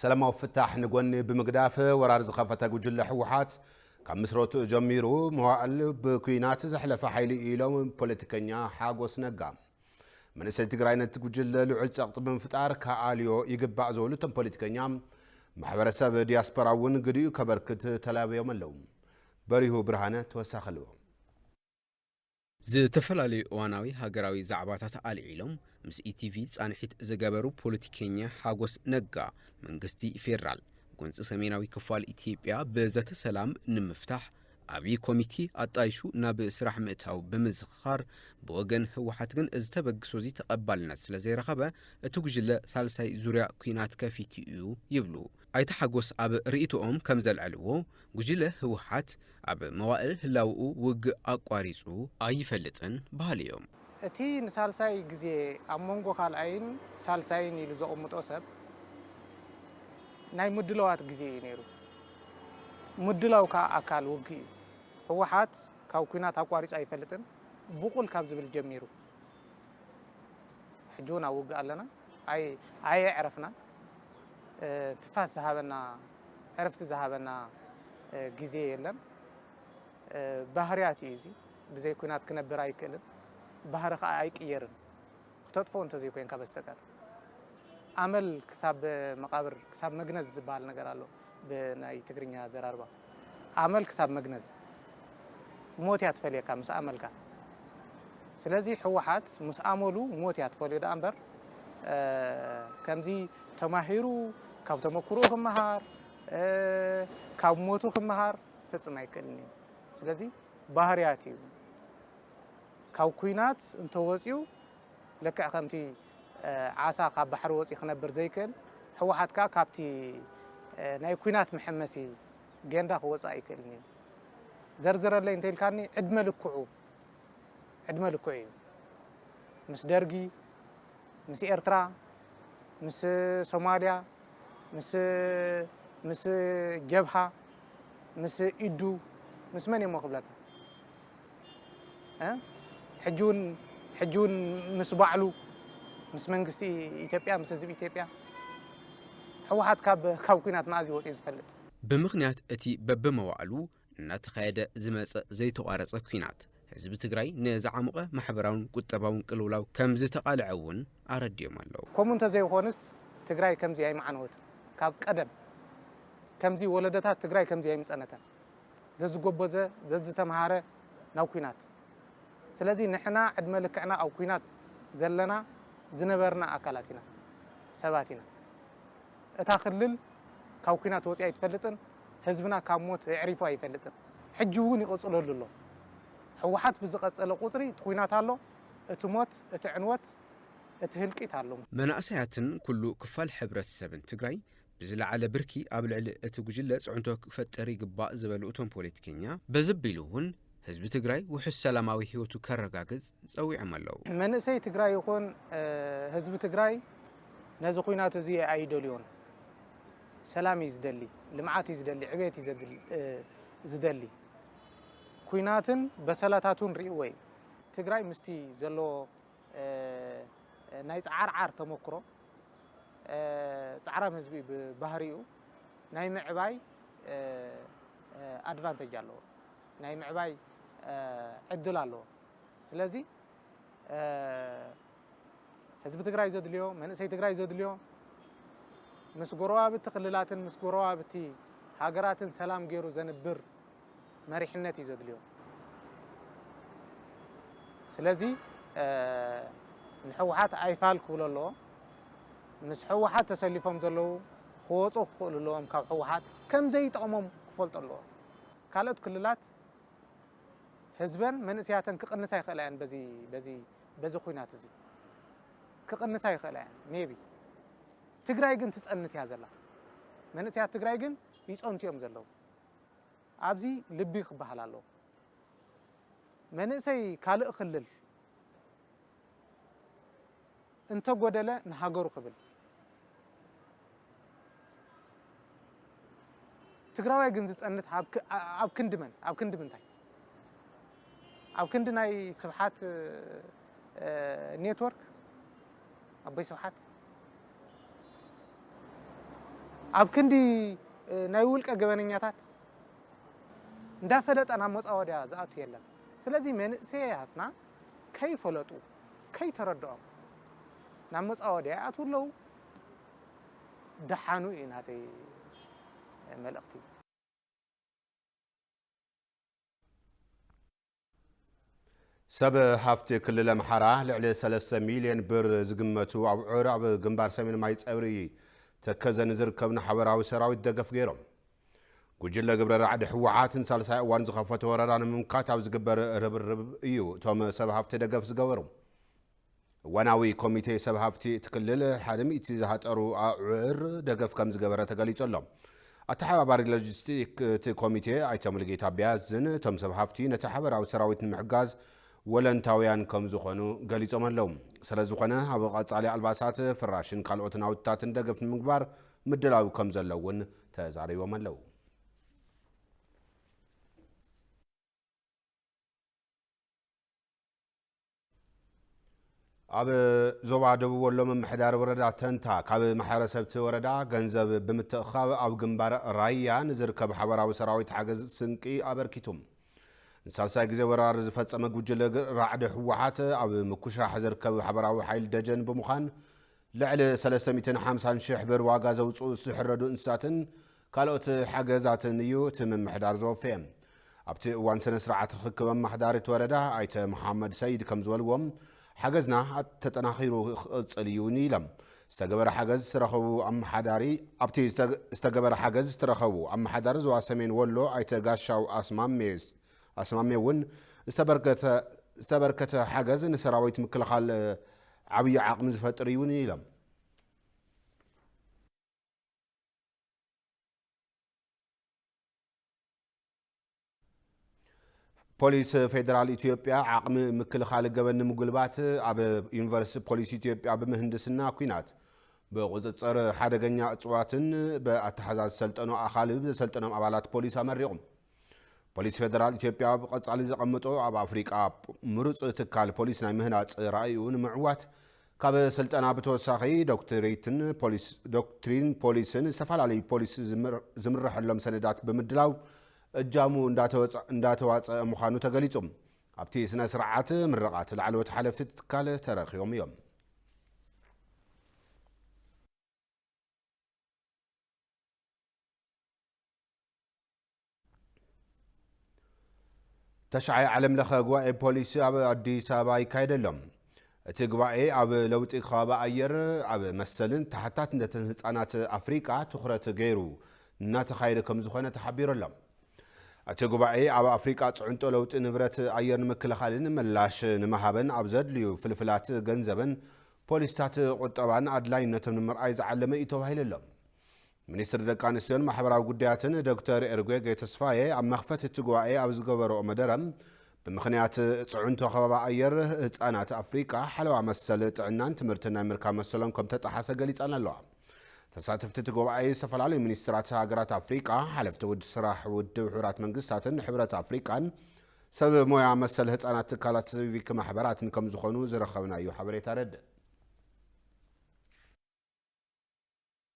ሰላማዊ ፍታሕ ንጎኒ ብምግዳፍ ወራር ዝኸፈተ ጉጅለ ህወሓት ካብ ምስረትኡ ጀሚሩ መዋእል ብኩናት ዘሕለፈ ሓይሊ እዩ ኢሎም ፖለቲከኛ ሓጎስ ነጋ መንእሰይ ትግራይ ነቲ ጉጅለ ልዑል ፀቕጢ ብምፍጣር ከኣልዮ ይግባእ ዝበሉ እቶም ፖለቲከኛ ማሕበረሰብ ዲያስፖራ እውን ግዲኡ ከበርክት ተላብዮም ኣለዉ በሪሁ ብርሃነ ተወሳኺ ኣለዎ። ዝተፈላለዩ እዋናዊ ሃገራዊ ዛዕባታት ኣልዒሎም ምስ ኢቲቪ ፃንሒት ዝገበሩ ፖለቲከኛ ሓጎስ ነጋ፣ መንግስቲ ፌዴራል ጎንፂ ሰሜናዊ ክፋል ኢትዮጵያ ብዘተ ሰላም ንምፍታሕ ዓብዪ ኮሚቴ ኣጣይሹ ናብ ስራሕ ምእታዉ ብምዝኽኻር፣ ብወገን ህወሓት ግን እዚ ተበግሶ'ዚ ተቐባልነት ስለዘይረኸበ እቲ ጉጅለ ሳልሳይ ዙርያ ኲናት ከፊቱ'ዩ ይብሉ። ኣይተ ሓጎስ ኣብ ርኢቶኦም ከምዘልዐልዎ፣ ጉጅለ ህወሓት ኣብ መዋእል ህላውኡ ውግእ ኣቋሪፁ ኣይፈልጥን በሃሊ እዮም። እቲ ንሳልሳይ ግዜ ኣብ መንጎ ካልኣይን ሳልሳይን ኢሉ ዘቕምጦ ሰብ ናይ ምድለዋት ግዜ እዩ ነይሩ። ምድላው ከኣ ኣካል ውግእ እዩ። ህወሓት ካብ ኲናት ኣቋሪፁ ኣይፈልጥን ብቑል ካብ ዝብል ጀሚሩ፣ ሕጂ ውን ኣብ ውግእ ኣለና ኣይ ኣየዕረፍናን ትፋስ ዝሃበና ዕርፍቲ ዝሃበና ግዜ የለን ባህርያት እዩ እዚ ብዘይ ኩናት ክነብር ኣይክእልን ባህሪ ከዓ ኣይቅየርን ክተጥፎ እንተዘይኮይንካ በስተቀር ኣመል ክሳብ መቃብር ክሳብ መግነዝ ዝበሃል ነገር ኣሎ ብናይ ትግርኛ ኣዘራርባ ኣመል ክሳብ መግነዝ ሞት እያ ትፈልየካ ምስ ኣመልካ ስለዚ ሕወሓት ምስ ኣመሉ ሞት እያ ትፈልዮ ደኣ እምበር ከምዚ ተማሂሩ ካብ ተመክሮ ክመሃር ካብ ሞቱ ክመሃር ፍፅም ኣይክእልን እዩ ስለዚ ባህርያት እዩ ካብ ኩናት እንተወፅኡ ልክዕ ከምቲ ዓሳ ካብ ባሕሪ ወጽዩ ክነብር ዘይክእል ህወሓት ከኣ ካብቲ ናይ ኩናት መሐመሲ ጌንዳ ክወጽእ ኣይክእልን እዩ። ዘርዝረለይ እንተኢልካኒ ዕድመ ልክዑ ዕድመ ልክዑ እዩ። ምስ ደርጊ፣ ምስ ኤርትራ፣ ምስ ሶማልያ፣ ምስ ምስ ጀብሃ፣ ምስ ኢዱ፣ ምስ መን እዩ'ሞ ክብለካ። ሕጂ ውን ሕጂ ውን ምስ ባዕሉ ምስ መንግስቲ ኢትዮጵያ ምስ ህዝቢ ኢትዮጵያ ሕወሓት ካብ ካብ ኩናት መኣዝ እዩ ወፂኡ ዝፈልጥ? ብምኽንያት እቲ በብመዋእሉ እናተኻየደ ዝመፀ ዘይተቋረፀ ኲናት፣ ህዝቢ ትግራይ ንዝዓሞቐ ማሕበራውን ቁጠባውን ቅልውላው ከምዝተቓልዐ እውን ኣረዲኦም ኣለው። ከምኡ እንተዘይኾንስ ትግራይ ከምዚ ኣይምዓነወትን፣ ካብ ቀደም ከምዚ ወለዶታት ትግራይ ከምዚ ኣይምፀነተን። ዘዝጎበዘ ዘዝተምሃረ ናብ ኩናት ስለዚ ንሕና ዕድመ ልክዕና ኣብ ኩናት ዘለና ዝነበርና ኣካላት ኢና ሰባት ኢና እታ ክልል ካብ ኩናት ወፂኣ ኣይትፈልጥን ህዝብና ካብ ሞት የዕሪፉ ኣይፈልጥን ሕጂ እውን ይቕፅለሉ ኣሎ ሕወሓት ብዝቐፀለ ቁፅሪ እቲ ኩናት ኣሎ እቲ ሞት እቲ ዕንወት እቲ ህልቂት ኣሎ። መናእሰያትን ኩሉ ክፋል ሕብረተሰብን ትግራይ ብዝለዓለ ብርኪ ኣብ ልዕሊ እቲ ጉጅለ ፅዕንቶ ክፈጥር ይግባእ ዝበሉ እቶም ፖለቲከኛ፣ በዚ ኣቢሉ እውን ህዝቢ ትግራይ ውሑስ ሰላማዊ ህይወቱ ከረጋግፅ ፀዊዖም ኣለው። መንእሰይ ትግራይ ይኹን ህዝቢ ትግራይ ነዚ ኹናት እዚ ኣይደልዮን። ሰላም እዩ ዝደሊ፣ ልምዓት እዩ ዝደሊ፣ ዕቤት እዩ ዝደሊ። ኹናትን በሰላታቱን ሪእዎ እዩ። ትግራይ ምስቲ ዘለዎ ናይ ፃዓርዓር ተሞክሮ፣ ጻዕራም ህዝቢ ብባህሪኡ ናይ ምዕባይ ኣድቫንተጅ ኣለዎ፣ ናይ ምዕባይ ዕድል ኣለዎ። ስለዚ ህዝቢ ትግራይ ዘድልዮ መንእሰይ ትግራይ ዘድልዮ ምስ ጎረባብቲ ክልላትን ምስ ጎረባብቲ ሃገራትን ሰላም ገይሩ ዘንብር መሪሕነት እዩ ዘድልዮ። ስለዚ ንሕወሓት ኣይፋል ክብሎ ኣለዎ። ምስ ሕወሓት ተሰሊፎም ዘለዉ ክወፁ ክኽእሉ ኣለዎም ካብ ሕወሓት ከምዘይጠቕሞም ክፈልጦ ኣለዎ። ካልኦት ክልላት ህዝበን መንእሰያተን ክቕንሳ ይኽእላ እየን በዚ በዚ በዚ ኩናት እዚ ክቕንሳ ይኽእላ እየን ሜቢ ትግራይ ግን ትፀንት እያ ዘላ መንእሰያት ትግራይ ግን ይፀንቱ እዮም ዘለዉ ኣብዚ ልቢ ክበሃል ኣለዎ መንእሰይ ካልእ ክልል እንተ ጎደለ ንሃገሩ ክብል ትግራዋይ ግን ዝጸንት ኣብ ክንዲ መን ኣብ ክንዲ ምንታይ ኣብ ክንዲ ናይ ስብሓት ኔትወርክ ኣቦይ ስብሓት ኣብ ክንዲ ናይ ውልቀ ገበነኛታት እንዳፈለጠ ናብ መፃወድያ ዝኣቱ የለን ስለዚ መንእሰያትና ከይፈለጡ ከይተረድኦም ናብ መፃወድያ ይኣትዉ ኣለዉ ደሓኑ እዩ ናተይ መልእኽቲ ሰብ ሃፍቲ ክልል ኣምሓራ ልዕሊ ሰለስተ ሚልዮን ብር ዝግመቱ ኣብዑር ኣብ ግንባር ሰሜን ማይፀብሪ ተከዘ ንዝርከብ ንሓበራዊ ሰራዊት ደገፍ ገይሮም። ጉጅለ ግብረ ራዕዲ ህወሓት ንሳልሳይ እዋን ዝኸፈቶ ወረራ ንምምካት ኣብ ዝግበር ርብርብ እዩ እቶም ሰብ ሃፍቲ ደገፍ ዝገበሩ። እዋናዊ ኮሚቴ ሰብ ሃፍቲ እቲ ክልል ሓደ ሚእቲ ዝሃጠሩ ኣዑር ደገፍ ከምዝገበረ ተገሊጹ ኣሎ። ኣተሓባባሪ ሎጂስቲክ እቲ ኮሚቴ ኣይተ ሙሉጌታ ቢያዝን እቶም ሰብ ሃፍቲ ነቲ ሓበራዊ ሰራዊት ንምሕጋዝ ወለንታውያን ከምዝኾኑ ገሊጾም ኣለው። ሰለዝኾነ ኣብ ቐፃሊ ኣልባሳት፣ ፍራሽን ካልኦት ናውትታትን ደገፍ ንምግባር ምድላው ከምዘሎ እውን ተዛሪቦም ኣለው። ኣብ ዞባ ደቡብ ወሎ ምምሕዳር ወረዳ ተንታ ካብ ማሕበረሰብቲ ወረዳ ገንዘብ ብምትእኻብ ኣብ ግንባር ራያ ንዝርከብ ሓበራዊ ሰራዊት ሓገዝ ስንቂ ኣበርኪቱ። ንሳልሳይ ግዜ ወራር ዝፈጸመ ጉጅለ ራዕዲ ህወሓት ኣብ ምኩሻሕ ዝርከብ ሓበራዊ ሓይል ደጀን ብምዃን ልዕሊ 350 ሽሕ ብር ዋጋ ዘውፅኡ ዝሕረዱ እንስሳትን ካልኦት ሓገዛትን እዩ እቲ ምምሕዳር ዘወፈየ። ኣብቲ እዋን ስነ ስርዓት ርኽክብ ኣማሓዳሪ እቲ ወረዳ ኣይተ መሓመድ ሰይድ ከምዝበልዎ፣ ሓገዝና ተጠናኺሩ ክቕፅል እዩ ውን ኢሎም። ዝተገበረ ሓገዝ ዝተረከቡ ኣማሓዳሪ ኣብቲ ዝተገበረ ሓገዝ ዝተረከቡ ኣማሓዳሪ ዞባ ሰሜን ወሎ ኣይተ ጋሻው ኣስማሜ ኣስማሜ እውን ዝተበርከተ ዝተበርከተ ሓገዝ ንሰራዊት ምክልኻል ዓብዪ ዓቕሚ ዝፈጥር እዩ ውን ኢሎም። ፖሊስ ፌዴራል ኢትዮጵያ ዓቕሚ ምክልኻል ገበን ንምጉልባት ኣብ ዩኒቨርሲቲ ፖሊስ ኢትዮጵያ ብምህንድስና ኩናት ብቁፅፅር ሓደገኛ እፅዋትን ብኣተሓዛዝ ሰልጠኖ ኣኻልብ ዘሰልጠኖም ኣባላት ፖሊስ ኣመሪቑም ፖሊስ ፌደራል ኢትዮጵያ ኣብ ቐፃሊ ዘቐመጦ ኣብ ኣፍሪቃ ምሩፅ ትካል ፖሊስ ናይ ምህናፅ ራእዩ ንምዕዋት ካብ ስልጠና ብተወሳኺ ዶክትሪትን ፖሊስ ዶክትሪን ፖሊስን ዝተፈላለዩ ፖሊስ ዝምረሐሎም ሰነዳት ብምድላው እጃሙ እንዳተዋፀ ምዃኑ ተገሊፁ። ኣብቲ ስነ ስርዓት ምረቓት ላዕለዎት ሓለፍቲ ትካል ተረኺቦም እዮም። ተሽዓይ ዓለም ለኸ ጉባኤ ፖሊሲ ኣብ ኣዲስ ኣበባ ይካየድ ኣሎ። እቲ ጉባኤ ኣብ ለውጢ ከባቢ ኣየር ኣብ መሰልን ተሓታትነትን ህፃናት ኣፍሪቃ ትኹረት ገይሩ እናተኻየደ ከም ዝኾነ ተሓቢሩ ኣሎ። እቲ ጉባኤ ኣብ ኣፍሪቃ ፅዕንጦ ለውጢ ንብረት ኣየር ንምክልኻልን ምላሽ ንመሃበን ኣብ ዘድልዩ ፍልፍላት ገንዘበን ፖሊሲታት ቁጠባን ኣድላይነቶም ንምርኣይ ዝዓለመ እዩ ተባሂሉ ኣሎ። ሚኒስትሪ ደቂ ኣንስትዮን ማሕበራዊ ጉዳያትን ዶክተር ኤርጌጌ ተስፋዬ ኣብ መኽፈቲ እቲ ጉባኤ ኣብ ዝገበረኦ መደረ ብምኽንያት ፅዕንቶ ከባቢ ኣየር ህፃናት ኣፍሪቃ ሓለዋ መሰል ጥዕናን ትምህርትን ናይ ምርካብ መሰሎም ከም ተጠሓሰ ገሊፀን ኣለዋ። ተሳተፍቲ እቲ ጉባኤ ዝተፈላለዩ ሚኒስትራት ሃገራት ኣፍሪቃ፣ ሓለፍቲ ውድ ስራሕ ውድብ ሕቡራት መንግስታትን ሕብረት ኣፍሪቃን ሰብ ሞያ መሰል ህፃናት ትካላት ሲቪክ ማሕበራትን ከም ዝኾኑ ዝረኸብናዮ ሓበሬታ የረድእ።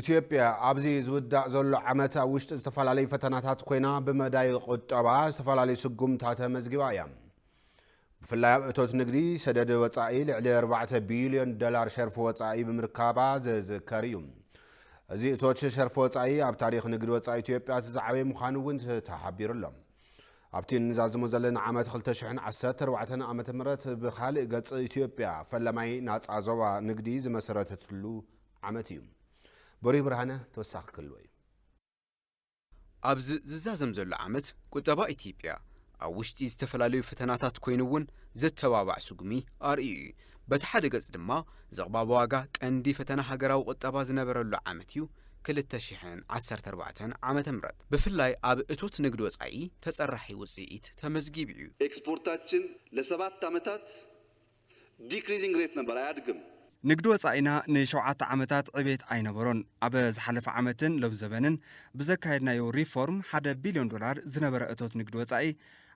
ኢትዮጵያ ኣብዚ ዝውዳእ ዘሎ ዓመት ኣብ ውሽጢ ዝተፈላለዩ ፈተናታት ኮይና ብመዳይ ቁጠባ ዝተፈላለዩ ስጉምታት ኣመዝጊባ እያ። ብፍላይ ኣብ እቶት ንግዲ ሰደድ ወፃኢ ልዕሊ 4 ቢልዮን ዶላር ሸርፊ ወፃኢ ብምርካባ ዝዝከር እዩ። እዚ እቶት ሸርፊ ወፃኢ ኣብ ታሪክ ንግዲ ወፃኢ ኢትዮጵያ እቲ ዝዓበየ ምዃኑ እውን ተሓቢሩ ኣሎ። ኣብቲ እንዛዝሞ ዘለና ዓመት ክልተ ሽሕን ዓሰርተ ኣርባዕተን ዓመተ ምህረት ብኻልእ ገጽ ኢትዮጵያ ፈላማይ ናጻ ዞባ ንግዲ ዝመሰረተትሉ ዓመት እዩ። በሪሁ ብርሃነ ተወሳኺ ክህልዎ እዩ። ኣብዚ ዝዛዘም ዘሎ ዓመት ቁጠባ ኢትዮጵያ ኣብ ውሽጢ ዝተፈላለዩ ፈተናታት ኮይኑ'ውን ዘተባባዕ ስጉሚ ኣርእዩ እዩ። በቲ ሓደ ገፅ ድማ ዝቕባበ ዋጋ ቀንዲ ፈተና ሃገራዊ ቁጠባ ዝነበረሉ ዓመት እዩ ክልተ ሽሕን ዓሰርተ ኣርባዕተን ዓመተ ምህረት ብፍላይ ኣብ እቶት ንግድ ወፃኢ ተፀራሒ ውፅኢት ተመዝጊቡ እዩ። ኤክስፖርታችን ለሰባት ዓመታት ዲክሪዚንግ ሬት ነበር፣ ኣያድግም። ንግድ ወፃኢና ንሸውዓተ ዓመታት ዕቤት ኣይነበሮን። ኣብ ዝሓለፈ ዓመትን ሎሚ ዘበንን ብዘካየድናዮ ሪፎርም ሓደ ቢልዮን ዶላር ዝነበረ እቶት ንግድ ወፃኢ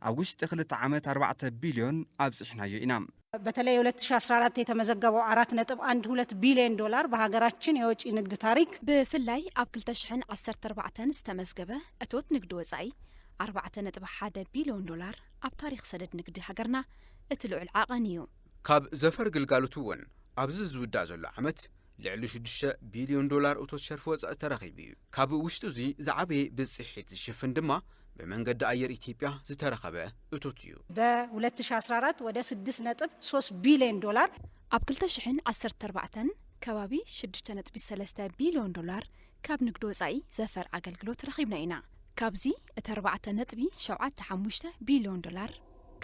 ኣብ ውሽጢ ክልተ ዓመት ኣርባዕተ ቢልዮን ኣብፂሕናዮ ኢና። በተለይ ሁለት ሺ አስራ አራት የተመዘገበው አራት ነጥብ አንድ ሁለት ቢሊየን ዶላር በሀገራችን የወጪ ንግድ ታሪክ ብፍላይ ኣብ ክልተ ሽሕን ዓሰርተ ኣርባዕተን ዝተመዝገበ እቶት ንግዲ ወፃኢ ኣርባዕተ ነጥቢ ሓደ ቢሊዮን ዶላር ኣብ ታሪኽ ሰደድ ንግዲ ሃገርና እቲ ልዑል ዓቐን እዩ። ካብ ዘፈር ግልጋሎት እውን ኣብዚ ዝውዳእ ዘሎ ዓመት ልዕሊ ሽዱሽተ ቢልዮን ዶላር እቶት ሸርፊ ወፃኢ ተረኺቡ እዩ። ካብ ውሽጢ እዙይ ዝዓበየ ብፅሒት ዝሽፍን ድማ ብመንገዲ ኣየር ኢትዮጵያ ዝተረኸበ እቶት እዩ። ብ ሁለት ሺህ ዓሰርተ ኣራት ወደ ስድስት ነጥብ ሶስት ቢልዮን ዶላር፣ ኣብ ክልተ ሽሕን ዓሰርተ ኣርባዕተን ከባቢ ሽዱሽተ ነጥቢ ሰለስተ ቢልዮን ዶላር ካብ ንግዲ ወፃኢ ዘፈር ኣገልግሎት ረኺብና ኢና። ካብዙይ እቲ ኣርባዕተ ነጥቢ ሸውዓተ ሓሙሽተ ቢልዮን ዶላር፣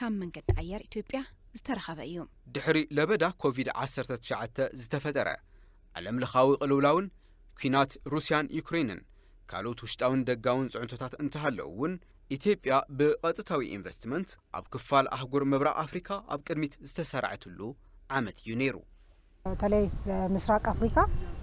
ካብ መንገዲ ኣየር ኢትዮጵያ ዝተረኸበ እዩ። ድሕሪ ለበዳ ኮቪድ ዓሰርተ ትሽዓተ ዝተፈጠረ ዓለምለኻዊ ቅልውላውን ኲናት ሩስያን ዩክሬንን ካልኦት ውሽጣውን ደጋውን ፅዕንቶታት እንተሃለዉ እውን ኢትዮጵያ ብቐጥታዊ ኢንቨስትመንት ኣብ ክፋል ኣህጉር ምብራቕ ኣፍሪካ ኣብ ቅድሚት ዝተሳርዐትሉ ዓመት እዩ ነይሩ። በተለይ በምስራቅ ኣፍሪካ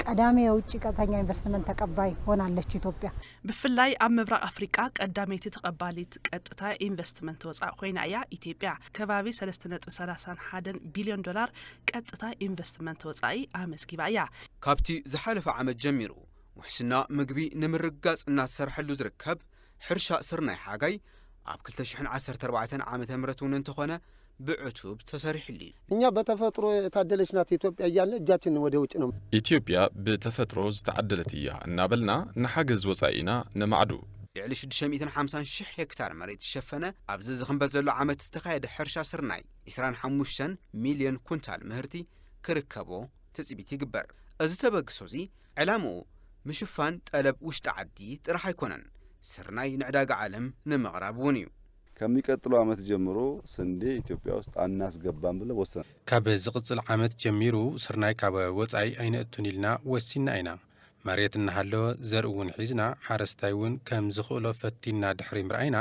ቀዳሚ የውጭ ቀጥተኛ ኢንቨስትመንት ተቀባይ ሆናለች ኢትዮጵያ። ብፍላይ ኣብ ምብራቕ ኣፍሪቃ ቀዳመይቲ ተቐባሊት ቀጥታ ኢንቨስትመንት ወፃኢ ኮይና እያ ኢትዮጵያ ከባቢ ሰለስተ ነጥቢ ሰላሳን ሓደን ቢልዮን ዶላር ቀጥታ ኢንቨስትመንት ወፃኢ ኣመዝጊባ እያ። ካብቲ ዝሓለፈ ዓመት ጀሚሩ ውሕስና ምግቢ ንምርግጋፅ እናተሰርሐሉ ዝርከብ ሕርሻ ስርናይ ሓጋይ ኣብ ክልተ ሽሕን ዓሰርተ ኣርባዕተን ዓመተ ምህረት እውን እንተኾነ ብዕቱብ ተሰሪሕሉ እዩ። እኛ በተፈጥሮ የታደለች ናት ኢትዮጵያ እያልን እጃችንን ወደ ውጭ ነው። ኢትዮጵያ ብተፈጥሮ ዝተዓደለት እያ እናበልና ንሓገዝ ወፃኢና ነማዕዱ። ልዕሊ ሽዱሽተ ሚእትን ሓምሳን ሽሕ ሄክታር መሬት ዝሸፈነ ኣብዚ ዝኽንበት ዘሎ ዓመት ዝተኻየደ ሕርሻ ስርናይ ዕስራን ሓሙሽተን ሚልዮን ኩንታል ምህርቲ ክርከቦ ትፅቢት ይግበር። እዚ ተበግሶ እዚ ዕላምኡ ምሽፋን ጠለብ ውሽጢ ዓዲ ጥራሕ ኣይኮነን፣ ስርናይ ንዕዳጋ ዓለም ንምቕራብ እውን እዩ። ከሚቀጥለው ዓመት ጀምሮ ስንዴ ኢትዮጵያ ውስጥ ኣናስገባም ብለን ወስነናል። ካብ ዝቕፅል ዓመት ጀሚሩ ስርናይ ካብ ወፃኢ ኣይነእቱን ኢልና ወሲንና ኢና። መሬት እናሃለወ ዘርኢ እውን ሒዝና ሓረስታይ እውን ከም ዝኽእሎ ፈቲንና ድሕሪ ምርኣይና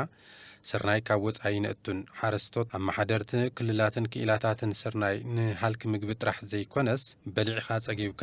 ስርናይ ካብ ወፃኢ ኣይነእቱን፣ ሓረስቶት፣ ኣመሓደርቲ ክልላትን ክኢላታትን ስርናይ ንሃልኪ ምግቢ ጥራሕ ዘይኮነስ በሊዕኻ ፀጊብካ፣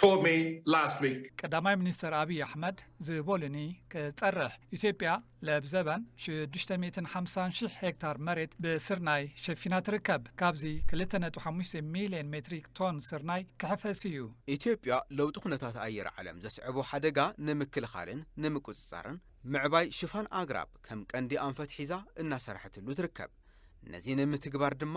told me last week. ቀዳማይ ሚኒስተር ኣብይ ኣሕመድ ዝበሉኒ ክጸርሕ፣ ኢትዮጵያ ለብዘበን ሽዱሽተ ሚእትን ሓምሳን ሺሕ ሄክታር መሬት ብስርናይ ሸፊና ትርከብ። ካብዚ ክልተ ነጥቢ ሓሙሽተ ሚልዮን ሜትሪክ ቶን ስርናይ ክሕፈስ እዩ። ኢትዮጵያ ለውጢ ኩነታት ኣየር ዓለም ዘስዕቦ ሓደጋ ንምክልኻልን ንምቁጽጻርን ምዕባይ ሽፋን ኣግራብ ከም ቀንዲ ኣንፈት ሒዛ እናሰርሐትሉ ትርከብ። ነዚ ንምትግባር ድማ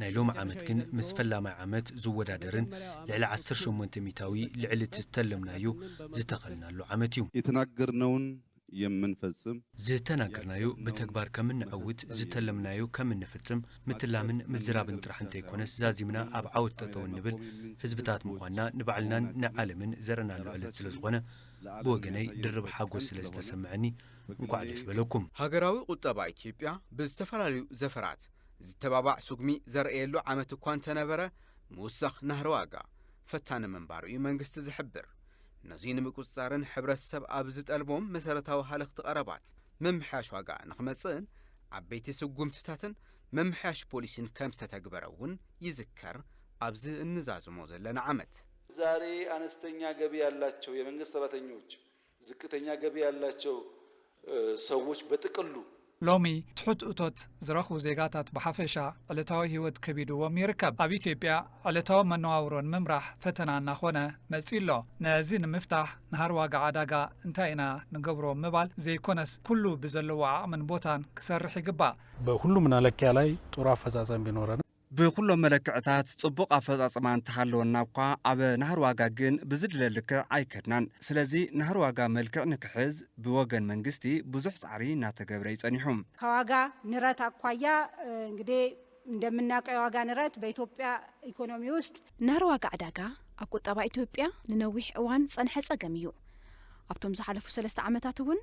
ናይ ሎሚ ዓመት ግን ምስ ፈላማይ ዓመት ዝወዳደርን ልዕሊ ዓሰርተ ሸሞንተ ሚታዊ ልዕሊ እቲ ዝተለምናዮ ዝተኸልናሉ ዓመት እዩ። የተናገርነውን የምንፈጽም። ዝተናገርናዮ ብተግባር ከምነዐውት፣ ዝተለምናዮ ከምንፍጽም ምትላምን ምዝራብን ጥራሕ እንተይኮነስ ዛዚምና ኣብ ዓወት ጠጠው እንብል ህዝብታት ምዃንና ንባዕልናን ንዓለምን ዘርእናሉ ዕለት ስለዝኾነ ብወገነይ ድርብ ሓጎስ ስለዝተሰመዐኒ እንኳዕ ደስ በለኩም። ሃገራዊ ቁጠባ ኢትዮጵያ ብዝተፈላለዩ ዘፈራት ዝተባባዕ ስጉሚ ዘርእየሉ ዓመት እኳ እንተነበረ ምውሳኽ ናህሪ ዋጋ ፈታኒ ምንባሩ እዩ መንግስቲ ዝሕብር። ነዙይ ንምቁፅፃርን ሕብረተሰብ ኣብ ዝጠልቦም መሰረታዊ ሃለኽቲ ቐረባት ምምሕያሽ ዋጋ ንክመፅእን ዓበይቲ ስጉምትታትን ምምሕያሽ ፖሊሲን ከምዝተተግበረ እውን ይዝከር ኣብዚ እንዛዝሞ ዘለና ዓመት። ዛሬ አነስተኛ ገቢ ያላቸው የመንግስት ሰራተኞች ዝቅተኛ ገቢ ያላቸው ሰዎች በጥቅሉ። ሎሚ ትሑት እቶት ዝረኽቡ ዜጋታት ብሓፈሻ ዕለታዊ ህይወት ከቢድዎም ይርከብ። ኣብ ኢትዮጵያ ዕለታዊ መነዋውሮ ንምምራሕ ፈተና እናኾነ መፂኡ'ሎ። ነዚ ንምፍታሕ ናህሪ ዋጋ ዕዳጋ እንታይ ኢና ንገብሮ ምባል ዘይኮነስ ኩሉ ብዘለዎ ዓቕምን ቦታን ክሰርሕ ይግባእ። በሁሉም መለኪያ ላይ ጥሩ ኣፈፃፀም ቢኖረንም ብኹሎም መለክዕታት ጽቡቕ ኣፈጻጽማ እንተሃለወና'ኳ ኣብ ናህሪ ዋጋ ግን ብዝድለ ልክዕ ኣይከድናን። ስለዚ ናህሪ ዋጋ መልክዕ ንክሕዝ ብወገን መንግስቲ ብዙሕ ጻዕሪ እናተገብረ'ዩ ጸኒሑ። ከዋጋ ንረት ኣኳያ እንግዲህ እንደምናቀው የዋጋ ንረት በኢትዮጵያ ኢኮኖሚ ውስጥ። ናህሪ ዋጋ ዕዳጋ ኣብ ቁጠባ ኢትዮጵያ ንነዊሕ እዋን ዝጸንሐ ጸገም እዩ። ኣብቶም ዝሓለፉ ሰለስተ ዓመታት እውን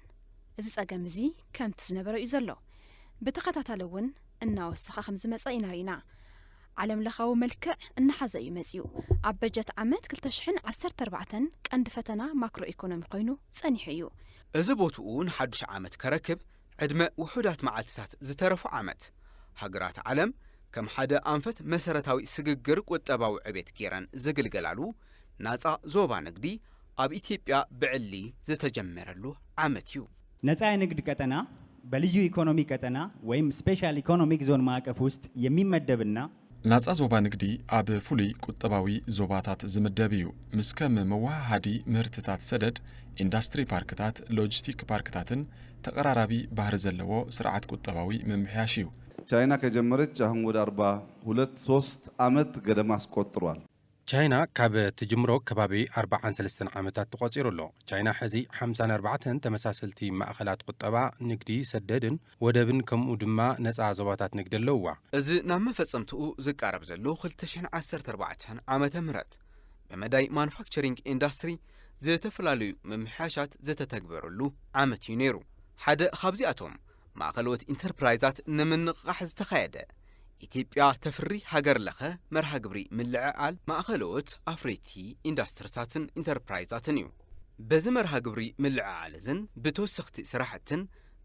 እዚ ጸገም እዚ ከምቲ ዝነበረ'ዩ ዘሎ። ብተኸታታሊ እውን። እናወሰኸ ከምዝመፀ ኢና ሪእና። ዓለም ለኻዊ መልክዕ እናሓዘ እዩ መፂኡ። ኣብ በጀት ዓመት ክልተ ሽሕን ዓሰርተ ኣርባዕተን ቀንዲ ፈተና ማክሮ ኢኮኖሚ ኮይኑ ፀኒሑ እዩ። እዚ ቦትኡ ንሓዱሽ ዓመት ከረክብ ዕድመ ውሑዳት መዓልቲታት ዝተረፎ ዓመት፣ ሃገራት ዓለም ከም ሓደ ኣንፈት መሰረታዊ ስግግር ቁጠባዊ ዕቤት ገይረን ዝግልገላሉ ናፃ ዞባ ንግዲ ኣብ ኢትዮጵያ ብዕሊ ዝተጀመረሉ ዓመት እዩ። ነፃ የንግድ ቀጠና በልዩ ኢኮኖሚ ቀጠና ወይም ስፔሻል ኢኮኖሚክ ዞን ማዕቀፍ ውስጥ የሚመደብ እና። ናፃ ዞባ ንግዲ ኣብ ፍሉይ ቁጠባዊ ዞባታት ዝምደብ እዩ። ምስ ከም መወሃሃዲ ምህርትታት ሰደድ፣ ኢንዳስትሪ ፓርክታት፣ ሎጂስቲክ ፓርክታትን ተቐራራቢ ባህሪ ዘለዎ ስርዓት ቁጠባዊ ምምሕያሽ እዩ። ቻይና ከጀመረች አሁን ወደ አርባ ሁለት ሶስት ዓመት ገደማ አስቆጥሯል። ቻይና ካብ ትጅምሮ ከባቢ ኣርባዓን ሰለስተን ዓመታት ተቖጺሩ ኣሎ። ቻይና ሕዚ ሓምሳን ኣርባዕተን ተመሳሰልቲ ማእኸላት ቁጠባ፣ ንግዲ፣ ሰደድን ወደብን ከምኡ ድማ ነጻ ዞባታት ንግዲ ኣለውዋ። እዚ ናብ መፈጸምትኡ ዝቃረብ ዘሎ ክልተ ሽሕን ዓሰርተ ኣርባዕተን ዓመተ ምህረት ብመዳይ ማኑፋክቸሪንግ ኢንዳስትሪ ዝተፈላለዩ ምምሕያሻት ዝተተግበረሉ ዓመት እዩ ነይሩ። ሓደ ካብዚኣቶም ማእኸለዎት ኢንተርፕራይዛት ንምንቕቓሕ ዝተኻየደ ኢትዮጵያ ተፍሪ ሃገር ለኸ መርሃ ግብሪ ምልዕዓል ማእኸለዎት ኣፍረይቲ ኢንዳስትርታትን ኢንተርፕራይዛትን እዩ። በዚ መርሃ ግብሪ ምልዕዓል እዝን ብተወሰኽቲ ስራሕትን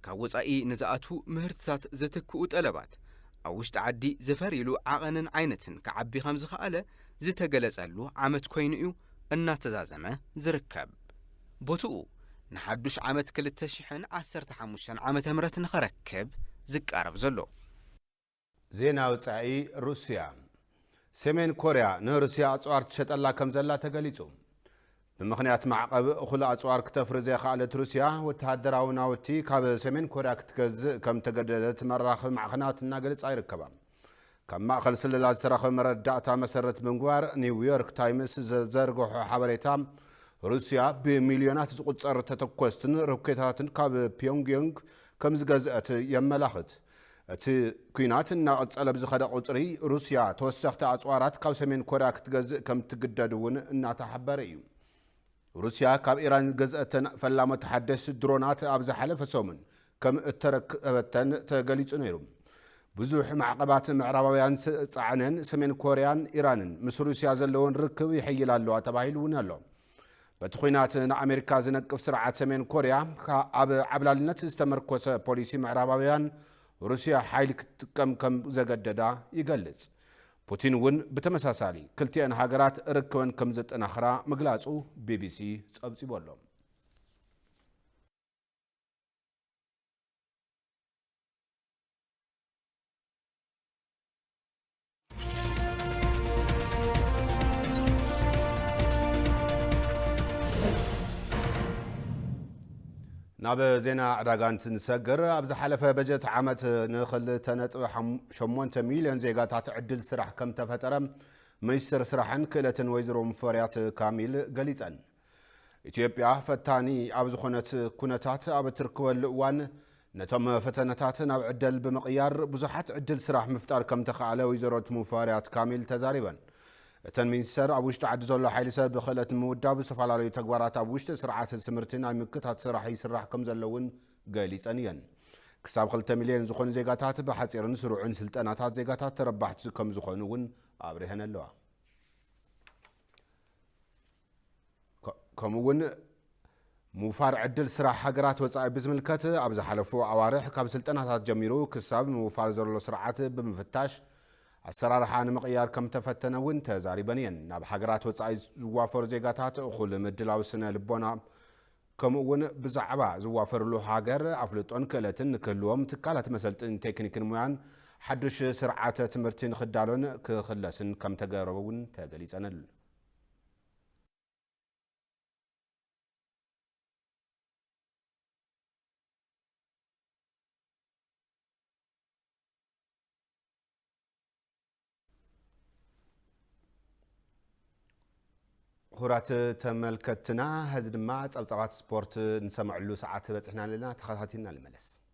ካብ ወፃኢ ንዝኣትዉ ምህርትታት ዘትክኡ ጠለባት ኣብ ውሽጢ ዓዲ ዝፈርይሉ ዓቐንን ዓይነትን ክዓቢ ከምዝኸኣለ ዝተገለፀሉ ዓመት ኮይኑ እዩ እናተዛዘመ ዝርከብ። ቦትኡ ንሓዱሽ ዓመት ክልተ ሽሕን ዓሰርተ ሓሙሽተን ዓመተ ምህረት ንኸረክብ ዝቃረብ ዘሎ። ዜና ወጻኢ ሩስያ ሰሜን ኮርያ ንሩስያ ኣጽዋር ትሸጠላ ከም ዘላ ተገሊጹ። ብምኽንያት ማዕቐብ እኹል ኣጽዋር ክተፍሪ ዘይኸኣለት ሩስያ ወተሃደራዊ ናውቲ ካብ ሰሜን ኮርያ ክትገዝእ ከም እተገደደት መራኽቢ ማዕኸናት እናገለጻ ይርከባ። ካብ ማእኸል ስለላ ዝተረኸበ መረዳእታ መሰረት ብምግባር ኒውዮርክ ታይምስ ዘዘርገሖ ሓበሬታ ሩስያ ብሚልዮናት ዝቑፀር ተተኮስትን ሮኬታትን ካብ ፒዮንግዮንግ ከም ዝገዝአት የመላኽት። እቲ ኲናት እናቐፀለ ብዝኸደ ቁፅሪ ሩስያ ተወሰኽቲ ኣፅዋራት ካብ ሰሜን ኮርያ ክትገዝእ ከም እትግደድ እውን እናተሓበረ እዩ። ሩስያ ካብ ኢራን ዝገዝኣተን ፈላመ ተሓደስቲ ድሮናት ኣብ ዝሓለፈ ሰሙን ከም እተረከበተን ተገሊጹ ነይሩ። ብዙሕ ማዕቐባት ምዕራባውያን ዝጸዓነን ሰሜን ኮርያን ኢራንን ምስ ሩስያ ዘለወን ርክብ ይሕይል ኣለዋ ተባሂሉ እውን ኣሎ። በቲ ኲናት ንኣሜሪካ ዝነቅፍ ስርዓት ሰሜን ኮርያ ኣብ ዓብላልነት ዝተመርኮሰ ፖሊሲ ምዕራባውያን ሩስያ ሓይሊ ክትጥቀም ከም ዘገደዳ ይገልጽ። ፑቲን እውን ብተመሳሳሊ ክልቲኣን ሃገራት ርክበን ከም ዘጠናኽራ ምግላፁ ቢቢሲ ፀብፂቡ ኣሎ። ናብ ዜና ዕዳጋ እንትንሰግር፣ ኣብ ዝሓለፈ በጀት ዓመት ን ክልተ ነጥቢ ሸሞንተ ሚልዮን ዜጋታት ዕድል ስራሕ ከምተፈጠረ ሚኒስትር ስራሕን ክእለትን ወይዘሮ ሙፈሪያት ካሚል ገሊፀን። ኢትዮጵያ ፈታኒ ኣብ ዝኾነት ኩነታት ኣብ እትርክበሉ እዋን ነቶም ፈተነታት ናብ ዕደል ብምቕያር ብዙሓት ዕድል ስራሕ ምፍጣር ከምተኻኣለ ወይዘሮ ሙፈሪያት ካሚል ተዛሪበን። እተን ሚኒስተር፣ ኣብ ውሽጢ ዓዲ ዘሎ ሓይሊ ሰብ ብክእለት ንምውዳብ ዝተፈላለዩ ተግባራት ኣብ ውሽጢ ስርዓት ትምህርቲ ናይ ምክታት ስራሕ ይስራሕ ከምዘሎ እውን ገሊፀን እየን። ክሳብ ክልተ ሚልየን ዝኾኑ ዜጋታት ብሓፂርን ስሩዕን ስልጠናታት ዜጋታት ተረባሕቲ ከምዝኾኑ እውን ኣብሪሀን ኣለዋ። ከምኡ እውን ምውፋር ዕድል ስራሕ ሃገራት ወፃኢ ብዝምልከት ኣብ ዝሓለፉ ኣዋርሕ ካብ ስልጠናታት ጀሚሩ ክሳብ ምውፋር ዘሎ ስርዓት ብምፍታሽ ኣሰራርሓ ንምቕያር ከም ተፈተነ እውን ተዛሪበን እየን። ናብ ሃገራት ወፃኢ ዝዋፈሩ ዜጋታት እኹል ምድላው ስነ ልቦና ከምኡ እውን ብዛዕባ ዝዋፈርሉ ሃገር ኣፍልጦን ክእለትን ንክህልዎም ትካላት መሰልጥን ቴክኒክን ሙያን ሓዱሽ ስርዓተ ትምህርቲ ንክዳሎን ክኽለስን ከም ተገረበ እውን ተገሊፀን። ክቡራት ተመልከትና ሕዚ ድማ ጸብጻባት ስፖርት ንሰምዐሉ ሰዓት በጽሕና ኣለና ተኸታቲልና ንመለስ